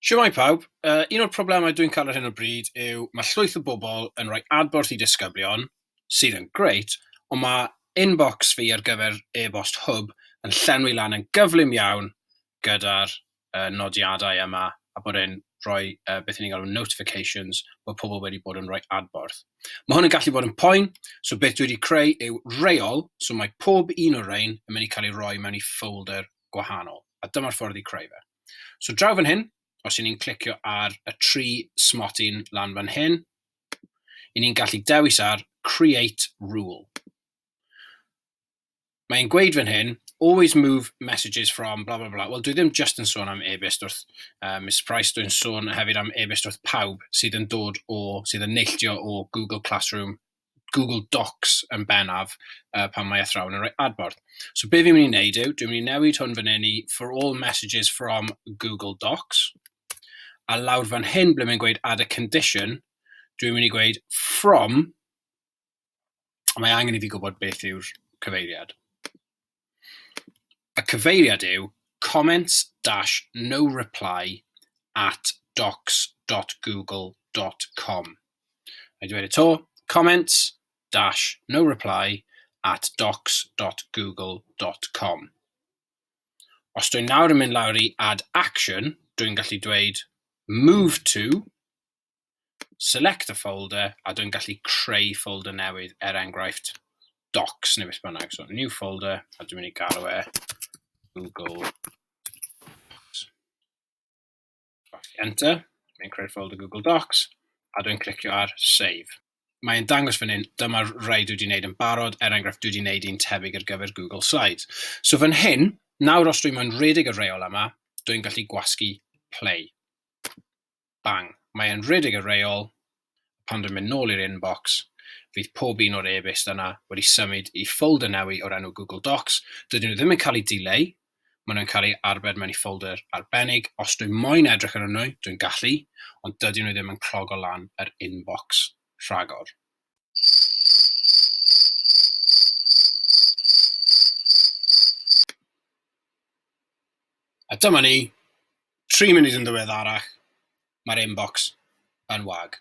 Siwmai pawb, uh, un o'r problemau dwi'n cael ar hyn o bryd yw mae llwyth o bobl yn rhoi adborth i disgyblion, sydd yn grêt, ond mae inbox fi ar gyfer e-bost Hwb yn llenwi lan yn gyflym iawn gyda'r y nodiadau yma a bod e'n rhoi uh, beth ni'n galw notifications bod pobl wedi bod yn rhoi adborth. Mae hwn yn gallu bod yn poen, so beth dwi wedi creu yw reol, so mae pob un o'r rhain yn mynd i cael ei roi mewn i folder gwahanol, a dyma'r ffordd i creu fe. So draw fan hyn, os y'n ni'n clicio ar y tri smotyn lan fan hyn, y'n ni'n gallu dewis ar Create Rule. mae'n gweud fan hyn, always move messages from bla bla bla. Wel, dwi ddim just yn sôn am e-byst wrth uh, Miss Price, dwi'n sôn hefyd am e-byst wrth pawb sydd yn dod o, sydd yn neilltio o Google Classroom, Google Docs yn benaf uh, pan mae athrawon yn rhoi adborth. So be fi'n mynd i wneud yw, dwi'n mynd i newid hwn fan hyn i for all messages from Google Docs, a lawr fan hyn ble mae'n gweud add a condition, dwi'n mynd i gweud from mae angen i fi gwybod beth yw'r cyfeiriad. Y cyfeiriad yw comments dash no reply at docs.google.com. Mae dweud y to, comments dash no reply at docs.google.com. Os dwi'n nawr yn mynd lawr i add action, dwi'n gallu dweud move to select a folder, a dwi'n gallu creu folder newydd, er enghraifft, docs neu beth bynnag. So, new folder, a dwi'n mynd i galw e Google Docs. Enter, mae'n creu'r folder Google Docs, a dwi'n clicio ar save. Mae'n dangos fan hyn, dyma'r rhai dwi wedi wneud yn barod, er enghraifft dwi wedi wneud un tebyg ar gyfer Google Slides. So fan hyn, nawr os dwi'n mwyn redig y reol yma, dwi'n gallu gwasgu play. bang, mae e'n rhedeg y reol, pan dwi'n mynd nôl i'r inbox, fydd pob un o'r e-byst yna wedi symud i ffolder newy o'r enw Google Docs, dydyn nhw ddim yn cael eu dileu, maen nhw'n cael eu arbed mewn i ffolder arbennig, os dwi moyn edrych arnyn nhw, dwi'n gallu, ond dydyn nhw ddim yn clogo lan yr inbox rhagor. A dyma ni, Tri munud yn ddiweddarach, mae'r inbox yn wag.